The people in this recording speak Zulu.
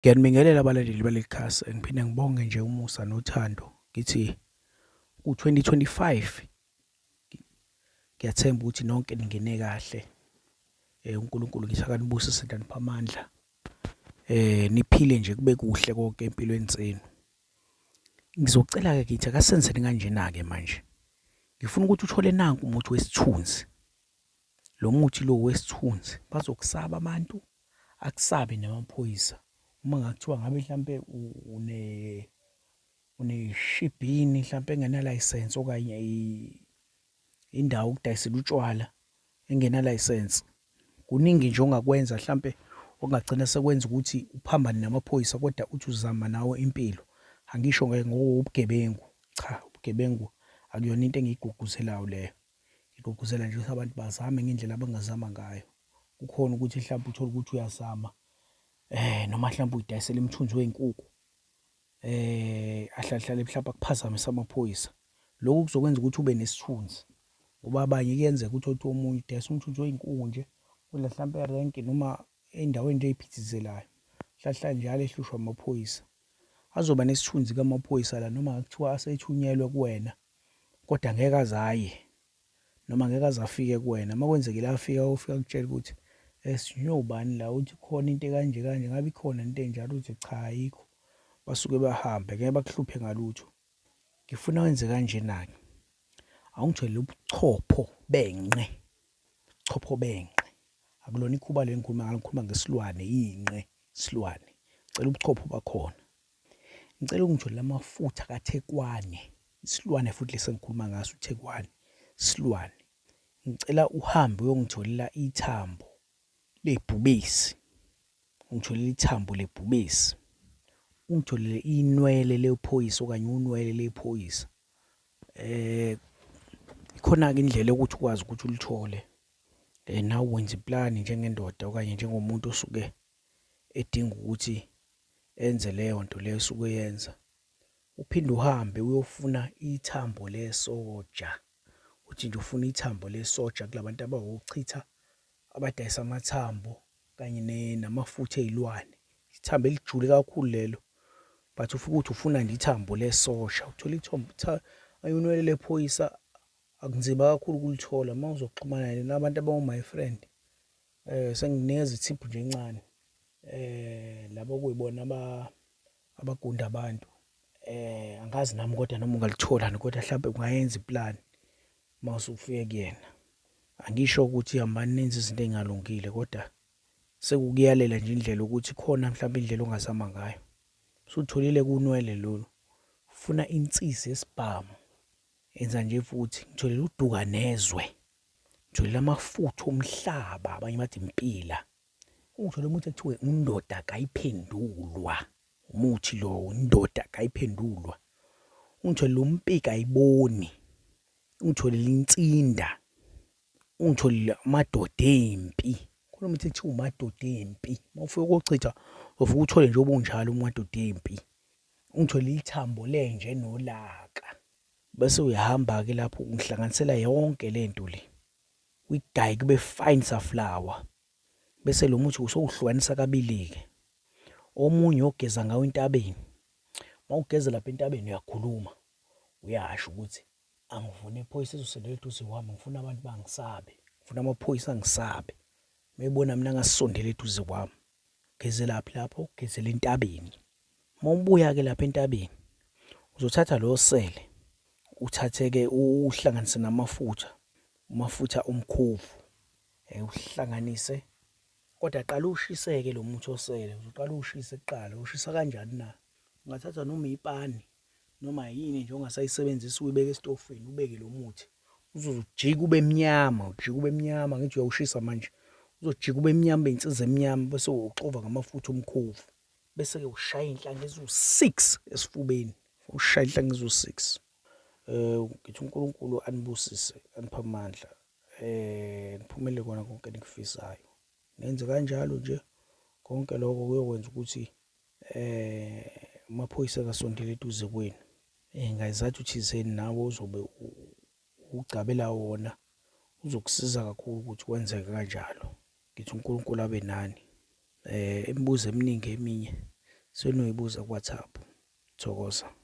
Ngiyanibingelela abalandeli baleli khasi ngiphinde ngibonge nje umusa nothando ngithi ku-2025 ngiyathemba ukuthi nonke ningene kahle eh uNkulunkulu ngithi akanibusise ndanipha amandla eh niphile nje kube kuhle konke empilweni zenu ngizocela ke ngithi akasenzeni kanjena ke manje ngifuna ukuthi uthole nanku umuthi wesithunzi Lo muthi lo wesithunzi bazokusaba abantu akusabe namaphoyisa uma ngakuthiwa ngabe mhlampe une uneshibhini mhlampe engenalayisensi okanye indawo okudayisela utshwala engenalayisensi kuningi nje ongakwenza mhlampe okungagcina sekwenza ukuthi uphambane namaphoyisa kodwa uthi uzama nawo impilo angisho ngokugebengu cha ubugebengu akuyona into engiyigqugquzelayo leyo Ngigqugquzela nje ukuthi abantu bazame ngendlela abangazama ngayo. Kukhona ukuthi mhlawumbe uthole ukuthi uyazama eh noma mhlawumbe uyidayisela imthunzi wezinkukhu eh ahlahlale mhlawumbe akuphazamise amaphoyisa. Lokhu kuzokwenza ukuthi ube nesithunzi ngoba abanye kuyenzeka ukuthi othi omunye udayisa umthunzi wezinkukhu nje kudla mhlawumbe erenki noma endaweni nje eyiphithizelayo. Hlahla njalo ehlushwa amaphoyisa. Azoba nesithunzi kamaphoyisa la noma kuthiwa asethunyelwe kuwena kodwa ngeke azaye noma ngeke azafike kuwena uma kwenzekile afika ofika kutshela ukuthi esinyobani la uthi khona into kanje kanje ngabe ikhona into enjalo uthi cha ayikho basuke bahambe ngeke bakuhluphe ngalutho ngifuna wenze kanjena-ke awungithole ubuchopho benqe chopho benqe akulona ikhuba le ngikhuluma ngalo ngikhuluma ngesilwane inqe isilwane cela ubuchopho bakhona Ngicela ungitshele amafutha kaThekwane, isilwane futhi lesi engikhuluma ngaso uThekwane, isilwane. Ngicela uhambe uyongitholela ithambo lebhubesi. Ungitholele ithambo lebhubesi. Ungitholele inwele lephoyisa okanye unwele lephoyisa. Eh ikhona-ke indlela yokuthi ukwazi ukuthi ulithole. Eh nawe wenza iplani njengendoda okanye njengomuntu osuke edinga ukuthi enze leyo nto leyo esuke uyenza uphinde uhambe uyofuna ithambo lesoja uthi nje ufuna ithambo lesoja kulabantu abawochitha abadayisa amathambo kanye namafutha ezilwane ithambo elijule kakhulu lelo but ufike ukuthi ufuna nje ithambo lesosha uthola ithambo ayunwele lephoyisa akunzima kakhulu ukulithola uma uzoxhumana nabantu abawu-my friend Eh senginikeza ithiphu nje encane. Eh labo kuyibona aba abagunda abantu. Eh angazi nami kodwa noma ungalithola kodwa mhlawumbe ungayenza iplan mawusufike kuyena. Angisho ukuthi hambani nenze izinto engalungile kodwa sekukuyalela nje indlela ukuthi khona mhlawumbe indlela ongazama ngayo. Usutholile kunwele lolu. Ufuna insisi yesibhamu. Enza nje futhi ngitholele uduka nezwe. Ngithwele amafutha omhlaba abanye bathi impila. Ungithole umuthi ekuthiwe undoda kayiphendulwa. Umuthi lo undoda kayiphendulwa. Ungithole umpika ayiboni. Ungithole linsinda. Ungithole amadoda empi. Khona umuthi ekuthiwa umadoda empi. Mawufika kochitha ufike uthole nje obunjalo umadoda empi. Ungithole ithambo lenje nolaka. Bese uyahamba-ke lapho ungihlanganisela yonke le nto le, uyigaye kube fine saflawa. Bese lo muthi usowuhlukanisa kabili-ke. Omunye ogeza ngawo entabeni. Uma ugeze lapha entabeni uyakhuluma, uyasho ukuthi angifuni iphoyisa ezosondela eduze kwami, ngifuna abantu bangisabe, ngifuna amaphoyisa angisabe. Uma ebona mina angasondela eduze kwami, Gezelaphi lapho? Ugezela entabeni. Uma ubuya-ke lapha entabeni, uzothatha lo sele, uthathe-ke uhlanganise namafutha, umafutha omkhovu, um uhlanganise. Kodwa qala uwushise-ke lo muthi osele, uzoqala uwushise kuqala. Ushisa kanjani na? Ungathatha noma ipani, noma yini nje ongasayisebenzisa uyibeke esitofini ubeke lo muthi uzojika ube mnyama ujika ube mnyama ngithi uyawushisa manje uzojika ube mnyama ube insiza emnyama bese uxova ngamafutha omkhovu bese-ke ushaya inhlanga eziwu-six esifubeni ushaya inhlanga eziwu-six um ngithi unkulunkulu anibusise aniphe amandla um niphumele kona konke enikufisayo nenze kanjalo nje konke lokho kuyokwenza ukuthi eh amaphoyisa kasondele eduze kwenu eh ngayizathu thizeni nawe uzobe ugcabela wona uzokusiza kakhulu ukuthi kwenzeke kanjalo ngithi uNkulunkulu abe nani eh imibuzo eminingi eminye senoyibuza ku WhatsApp thokoza